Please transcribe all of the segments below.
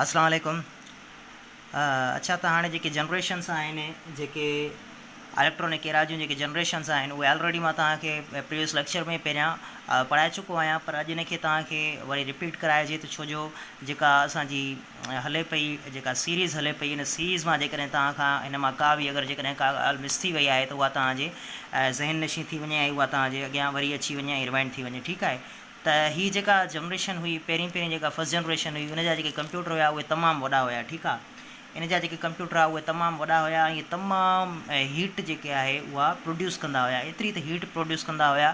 السلام عليڪم اڇا ته هاڻي جيڪي جنريشنس آهن جيڪي اليڪٽرانڪ ايرا جون جيڪي جنريشنس آهن اهي آلريڊي مان تهان کي پريويس ليڪچر ۾ پهريان پڙهائي چڪو آهيان پر اڄ ان کي تهان کي وري رپيٽ ڪرائجي ته ڇوجو جيڪا اسان جي هلي پئي جيڪا سيريز هلي پئي ان سيريز مان جيڪڏهن تهان کان هن مان ڪا به اگر جيڪڏهن ڪا ڳالهه مس ٿي وئي آهي ته اها تهان جي ذهن نشين ٿي وڃي ۽ اها تهان جي اڳيان وري اچي وڃي ۽ ريوائنڊ ٿي وڃي ٺيڪ آهي ته هي جيڪا جنريشن هئي پهرين پهرين جيڪا فرسٽ جنريشن هئي ان جا جيڪي ڪمپيوٽر هيا اهي تمام وڏا هيا ٺيڪ آ ان جا جيڪي ڪمپيوٽر هيا اهي تمام وڏا هيا ۽ اهي تمام هيٽ جيڪي آهي اها پروڊيوس ڪندا هيا ايتري ته هيٽ پروڊيوس ڪندا هيا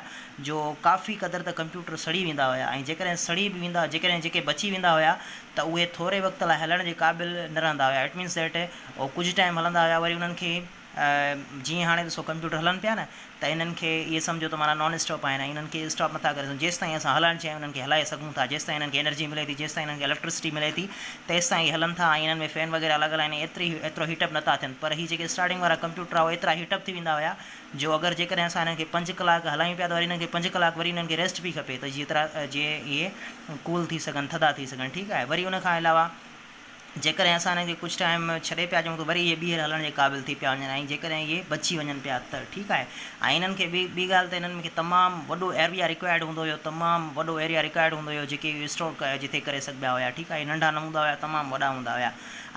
جو ڪافي قدر ته ڪمپيوٽر سڙي ويندا هيا ۽ جيڪڏهن سڙي به ويندا جيڪڏهن جيڪي بچي ويندا هيا ته اهي ٿوري وقت لاء هلڻ جي قابل نه رهندا هيا ايٽ مينس ڏيٽ اهو ڪجهه ٽائيم هلندا هيا وري انهن کي جيئن هاڻي ڏسو ڪمپيوٽر هلن پيا نه ته انهن کي اهي سمجهو ته معنيٰ نان اسٽاپ آهن ۽ انهن کي اسٽاپ نٿا ڪري سگهون جيستائين اسان هلائڻ چاهيون انهن کي هلائي سگهون ٿا جيستائين انهن کي انرجي ملي ٿي جيستائين انهن کي اليڪٽرسٽي ملي ٿي تيستائين اهي هلن ٿا ۽ انهن ۾ فين وغيره لڳل آهن ۽ ايتري ايترو هيٽ اپ نٿا ٿين پر هي جيڪي اسٽارٽنگ وارا ڪمپيوٽر هئا ايترا هيٽ اپ ٿي ويندا هيا جو اگر جيڪڏهن اسان انهن کي پنج ڪلاڪ هلايون پيا ته وري انهن کي پنج ڪلاڪ وري انهن کي ريسٽ پئي کپي ته جيترا جي اهي ڪول ٿي سگهن ٿڌا ٿي سگهن ٺيڪ آهي وري ان کان علاوه جيڪڏهن اسان انهن کي ڪجهه ٽائيم ڇڏي پيا ڏيون ته وري اهي ٻيهر هلڻ جي قابل ٿي پيا وڃن ۽ جيڪڏهن اهي بچي وڃن پيا ته ٺيڪ آهي ۽ انهن کي ٻي ڳالهه ته انهن کي تمام وڏو ايريا ريڪوائرڊ هوندو هيو تمام وڏو ايريا ريڪوائرڊ هوندو هيو جيڪي اهي اسٽور جتي ڪري سگهبا هيا ٺيڪ آهي ننڍا نه هوندا هيا تمام وڏا هوندا هيا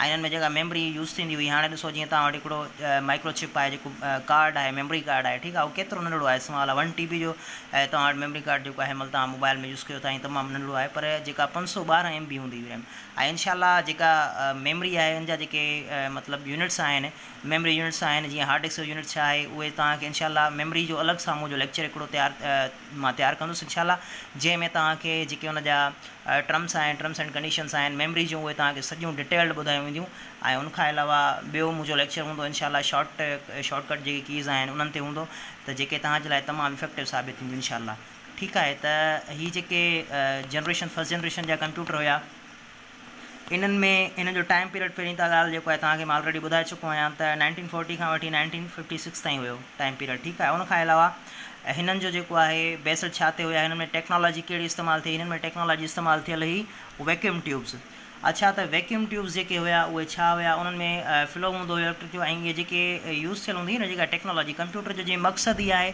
۽ انهن ۾ جيڪا ميموري يوز ٿيندي هئي هاڻي ڏسو جيئن توهان وٽ هڪڙو مائڪرو چپ آهي جيڪو ڪارڊ آهي ميموري ڪارڊ آهي ٺيڪ آهي اهو ڪيترو ننڍڙو آهي سمال آهي ون ٽي بي جو توهان وٽ ميموري ڪارڊ جيڪو آهي مطلب توهان موبائل ۾ يوز ڪيو ٿا ائين تمام ننڍڙو آهي پر جيڪا پنج سو ٻارهن ايم بي هوندي هئي ريم ۽ انشاء الله جيڪا ميمري آهي ان جا جيڪي مطلب يونٽس آهن ميمري يونٽس آهن جيئن هارڊ ڊسڪ جو يونٽ ڇا آهي اهي توهان کي انشاء الله ميمري جو الڳ سان منهنجو ليڪچر هڪڙو تيار مان تيار ڪندس انشاء الله جنهن ۾ توهان کي جيڪي ان جا ٽرمس آهن ٽرمس اينڊ ڪنڊيشنس آهن ميمري جون اهي توهان کي سڄيون ڊيٽيلڊ ٻڌايون وينديون ۽ ان کان علاوه ٻيو منهنجو ليڪچر هوندو انشاء الله شارٽ شارٽ ڪٽ جيڪي ڪيز آهن انهن تي هوندو ته جيڪي توهان جي لاء تمام افيڪٽو ثابت ٿينديون انشاء الله ٺيڪ آهي ته هي جيڪي جنريشن فرسٽ جنريشن جا ڪمپيوٽر هيا انهن ۾ انهن جو ٽائيم پيريڊ پهرين ته ڳالهه جيڪو آهي تهان کي مان آلريڊي ٻڌائي چڪو آهيان ته نائنٽين فورٽي کان وٺي نائنٽين ففٽي سڪس تائين هيو ٽائيم پيريڊ ٺيڪ آهي ان کان علاوه هنن جو جيڪو آهي بيسڊ ڇا تي هيا هنن ۾ ٽيڪنالاجي ڪهڙي استعمال ٿي هنن ۾ ٽيڪنالاجي استعمال ٿيل هئي ويڪيوم ٽيوبز اڇا ته ويڪيوم ٽيوبز جيڪي هيا اهي ڇا هيا انهن ۾ فلو هوندو هيو اليڪٽرڪ جو ۽ اهي جيڪي يوز ٿيل هوندي هي نه جيڪا ٽيڪنالاجي ڪمپيوٽر جو جي مقصد ئي آهي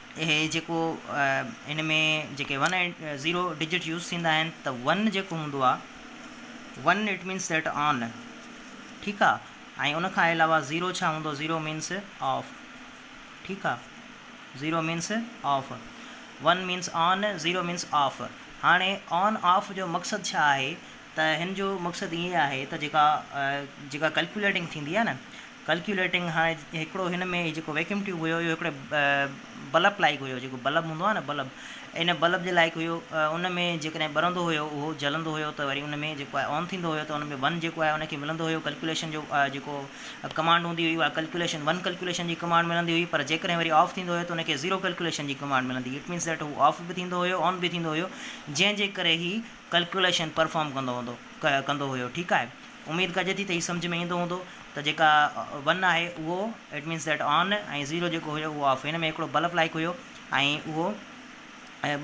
اهي جيڪو ان ۾ جيڪي ون ۽ زيرو ڊجٽ يوز ٿيندا آهن ته ون جيڪو هوندو آ one it means that on ٺيڪ آ ۽ ان کان علاوه زيرو ڇا هوندو زيرو مينس آف ٺيڪ آ zero means off one means on zero means off هاڻي آن آف جو مقصد ڇا آهي ته هن جو مقصد ايئن آهي ته جيڪا جيڪا ڪلڪوليٽنگ ٿيندي آ نه ڪلڪيوليٽنگ هاڻي هڪڙو هن ۾ جيڪو ويڪيوم ٽيوب هيو اهو هڪڙي بلب لائق هيو جيڪو بلب هوندو آهي نه بلب ان بلب جي لائق هيو ان ۾ جيڪڏهن ٻرندو هيو اهو جلندو هيو ته وري ان ۾ جيڪو آهي آن ٿيندو هيو ته ان ۾ ون جيڪو آهي ان کي ملندو هيو ڪلڪيوليشن جو جيڪو ڪمانڊ هوندي هئي اها ڪلڪيوليشن ون ڪلڪيوليشن جي ڪمانڊ ملندي هئي پر جيڪڏهن وري آف ٿيندو هيو ته ان کي زيرو ڪلڪيوليشن جي ڪمانڊ ملندي هئي اٽ مينس ڏيٽ هو آف به ٿيندو هيو آن به ٿيندو هيو جنهن جي ڪري هي ڪلڪيوليشن پرفارم ڪندو هوندو ڪندو هيو ٺيڪ آهي اميد ڪجي ٿي ته هي سمجهه ۾ ايندو هوندو ته جيڪا ون آهي اهو it means that on ۽ zero جيڪو هيو اهو آف هن ۾ هڪڙو بلف لائيڪ هيو ۽ اهو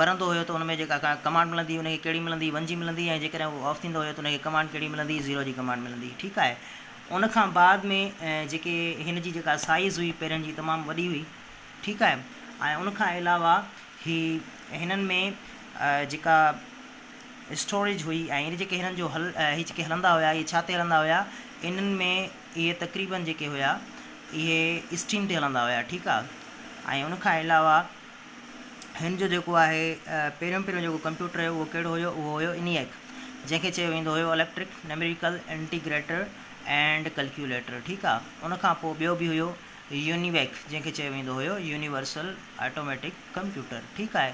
ٻرندو هيو ته ان ۾ جيڪا ڪمانڊ ملندي ان کي ڪهڙي ملندي ون جي ملندي ۽ جيڪڏهن اهو آف ٿيندو هيو ته ان کي ڪمانڊ ڪهڙي ملندي زيرو جي ڪمانڊ ملندي ٺيڪ آهي ان کان بعد ۾ جيڪي هن جي جيڪا سائيز هئي پيرن جي تمام وڏي هئي ٺيڪ آهي ۽ ان کان علاوه هي هنن ۾ جيڪا اسٽوريج هئي ۽ اهي جيڪي هنن جو هل اهي جيڪي هلندا هيا اهي ڇا تي هلندا هيا انهن ۾ اهي تقريبن جيڪي هيا اهي اسٽيم تي هلندا هيا ٺيڪ آ ۽ ان کان علاوه هن جو جيڪو آهي پهريون پهريون جيڪو ڪمپيوٽر هيو اهو ڪهڙو هيو اهو هيو انيئڪ جنهن کي چيو ويندو هيو electric numerical integrator and calculator ٺيڪ آ ان کان پوء ٻيو به هيو يونيويڪ جنهن کي چيو ويندو هيو يونيورسل آٽوميٽڪ ڪمپيوٽر ٺيڪ آهي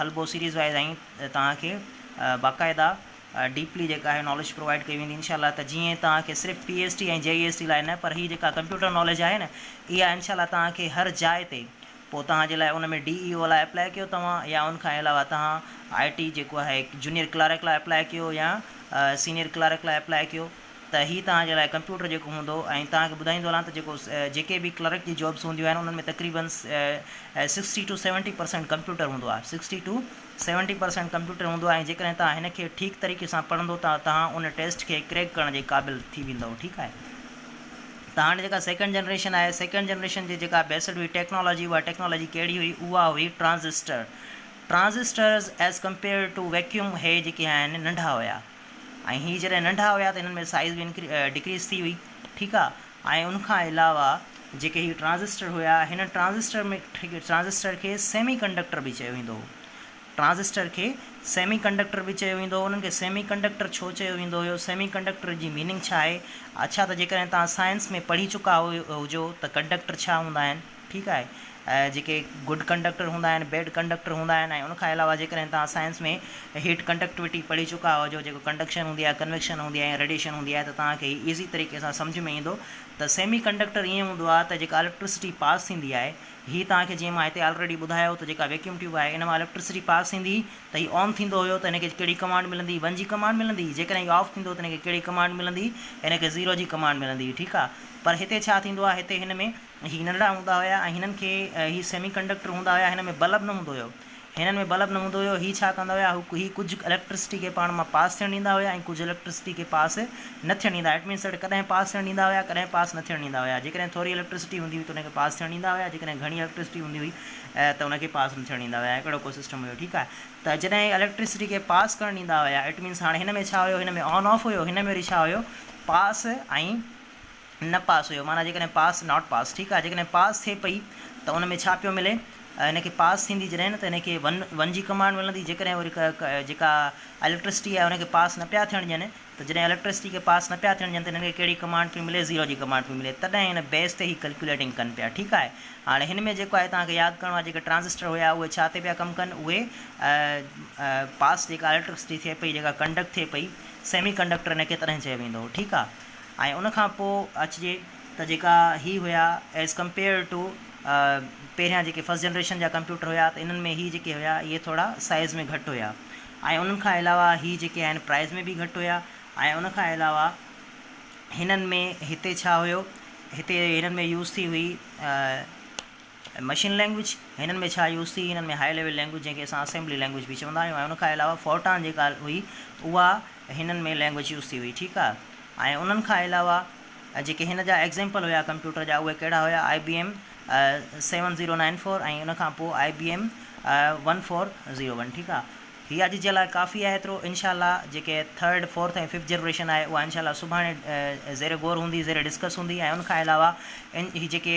هلبو سيريز وائيز ۽ توهان کي باقاعده ڊيپلي جيڪا آهي ناليج پرووائيڊ ڪئي ويندي انشاء الله ته جيئن توهان کي صرف P S T ۽ J E S T لاء نه پر هي جيڪا ڪمپيوٽر ناليج آهي نه اها انشاء الله توهان کي هر جاء تي پوء توهان جي لاء ان ۾ ڊي اي او لاء اپلائي ڪيو توهان يا ان کان علاوه توهان آء ٽي جيڪو آهي جونيئر ڪلارڪ لاء اپلائي ڪيو يا سينيئر ڪلارڪ لاء اپلائي ڪيو ته هي توهان جي لاء ڪمپيوٽر جيڪو هوندو ۽ توهان کي ٻڌائيندو هلان ته جيڪو جيڪي به ڪلرڪ جي جابس هونديون آهن انهن ۾ تقريبن sixty two seventy percent computer هوندو آهي sixty two seventy percent computer هوندو آهي ۽ جيڪڏهن توهان هن کي ٺيڪ طريقي سان پڙهندو ته توهان ان ٽيسٽ کي ڪريڪ ڪرڻ جي قابل ٿي ويندو ٺيڪ آهي ته هاڻي جيڪا سيڪنڊ جنريشن آهي سيڪنڊ جنريشن جي جيڪا بيسڊ هئي ٽيڪنالاجي اها ٽيڪنالاجي ڪهڙي هئي اها هئي transistor transistors as compare to vacuum هي جيڪي آهن ننڍا هيا ۽ هي جڏهن ننڍا هيا ته هنن ۾ سائيز به انڪري ڊڪريز ٿي هئي ٺيڪ آ ۽ ان کان علاوه جيڪي هي ٽرانزسٽر هيا هن ٽرانزسٽر ۾ ٽرانزسٽر کي سيمي ڪنڊڪٽر به چيو ويندو هو ٽرانزسٽر کي سيمي ڪنڊڪٽر به چيو ويندو هو انهن کي سيمي ڪنڊڪٽر ڇو چيو ويندو هيو سيمي ڪنڊڪٽر جي ميننگ ڇا آهي اڇا ته جيڪڏهن توهان سائنس ۾ پڙهي چڪا هجو ته ڪنڊڪٽر ڇا هوندا آهن ٺيڪ آهي جيڪي گڊ ڪنڊڪٽر هوندا آهن بيڊ ڪنڊڪٽر هوندا آهن ۽ ان کان علاوه جيڪڏهن توهان سائنس ۾ هيٽ ڪنڊڪٽوٽي پڙهي چڪا هجو جيڪو ڪنڊڪشن هوندي آهي ڪنويڪشن هوندي آهي يا ريڊيشن هوندي آهي ته توهان کي هي ايزي طريقي سان سمجهه ۾ ايندو ته سيمي ڪنڊڪٽر ائين هوندو آهي ته جيڪا اليڪٽرسٽي پاس ٿيندي آهي هي توهان کي جيئن مان هتي آلريڊي ٻڌايو ته جيڪا ويڪيوم ٽيوب آهي ان مان اليڪٽرسٽي پاس ٿيندي ته هي آن ٿيندو هيو ته هن کي ڪهڙي ڪمانڊ ملندي ون جي ڪمانڊ ملندي جيڪڏهن هي آف ٿيندو ته هن کي ڪهڙي ڪمانڊ ملندي هن کي زيرو جي ڪمانڊ ملندي ٺيڪ آهي پر هتي ڇا ٿيندو آهي هتي هن ۾ هي ننڍڙا هوندا هيا ۽ هنن کي هي سيمي ڪنڊڪٽر هوندا هيا هن ۾ بلب نه هوندو هيو هنن ۾ بلب نه هوندو هيو هي ڇا ڪندا هيا هي ڪجهه اليڪٽرسٽي کي پاڻ مان پاس ٿيڻ ڏيندا هيا ۽ ڪجهه اليڪٽرسٽي کي پاس نه ٿيڻ ڏيندا ايٽ مينس ايٽ ڪڏهن پاس ٿيڻ ڏيندا هيا ڪڏهن پاس نه ٿيڻ ڏيندا هيا جيڪڏهن ٿوري اليڪٽرسٽي هوندي هئي ته ان کي پاس ٿيڻ ڏيندا هيا جيڪڏهن گهڻي اليڪٽرسٽي هوندي هئي ته ان کي پاس نه ٿيڻ ڏيندا هيا اهڙو ڪو سسٽم هيو ٺيڪ آهي ته جڏهن هي اليڪٽرسٽي کي پاس ڪرڻ ڏيندا هيا ايٽ مينس هاڻي هن ۾ ڇا هيو هن ۾ آن آف هيو هن ۾ وري ڇا هيو پاس ۽ نه پاس هيو معنيٰ جيڪڏهن پاس Not Pass ٺيڪ آهي جيڪڏهن پاس ٿئي پئي ته ان ۾ ڇا پيو ملي هن کي پاس ٿيندي جڏهن ته هن کي ون ون جي ڪمانڊ ملندي جيڪڏهن وري جيڪا اليڪٽرسٽي آهي ان کي پاس نه پيا ٿيڻ ڏين ته جڏهن اليڪٽرسٽي کي پاس نه پيا ٿيڻ ڏين ته هن کي ڪهڙي ڪمانڊ پئي ملي زيرو جي ڪمانڊ پئي ملي تڏهن ان بيس تي هي ڪلڪيوليٽنگ ڪن پيا ٺيڪ آهي هاڻي هن ۾ جيڪو آهي توهان کي ياد ڪرڻو آهي جيڪي ٽرانزسٽر هيا اهي ڇا تي پيا ڪم ڪن اهي پاس جيڪا اليڪٽرسٽي ٿئي پئي جيڪا ڪنڊڪٽ ٿئي پئي سيمي ڪنڊڪٽر ان کي تڏهن چيو ويندو هو ٺيڪ آهي ۽ ان کان پوء اچجي ته جيڪا هي هيا As Compared To پهريان جيڪي First Generation جا ڪمپيوٽر هيا ته انهن ۾ هي جيڪي هيا اهي ٿورا سائيز ۾ گهٽ هيا ۽ انهن کان علاوه هي جيڪي آهن پرائيز ۾ به گهٽ هيا ۽ ان کان علاوه هنن ۾ هتي ڇا هيو هتي هنن ۾ يوز ٿي هئي ۽ مشين لينگويج هنن ۾ ڇا يوز ٿي هنن ۾ هاء ليول لينگويج جنهن کي اسان اسيمبلي لينگويج به چوندا آهيون ۽ ان کان علاوه فورٽان جيڪا هئي اها هنن ۾ لينگويج يوز ٿي هئي ٺيڪ آهي ۽ انهن کان علاوه جيڪي هن جا ايگزيمپل هيا ڪمپيوٽر جا اهي ڪهڙا هيا I B M seven zero nine four ۽ ان کان پوء I B M one four zero one ٺيڪ آهي هي اڄ جي لاء ڪافي آهي ايترو انشاء الله جيڪي ٿرڊ فورٿ ۽ ففٿ جنريشن آهي اها انشاء الله سڀاڻي زير غور هوندي زير ڊسڪس هوندي ۽ ان کان علاوه هي جيڪي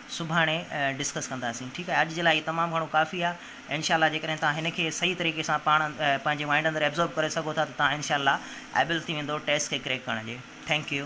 سڀاڻي ڊسڪس ڪنداسين ٺيڪ آهي اڄ جي لاء اهي تمام گهڻو ڪافي آهي انشاء الله جيڪڏهن توهان هن کي صحيح طريقي سان پاڻ پنهنجي مائنڊ اندر ابزورب ڪري سگهو ٿا ته توهان انشاء الله ايبل ٿي ويندو ٽيسٽ کي ڪريڪ ڪرڻ جي ٿينڪ يو.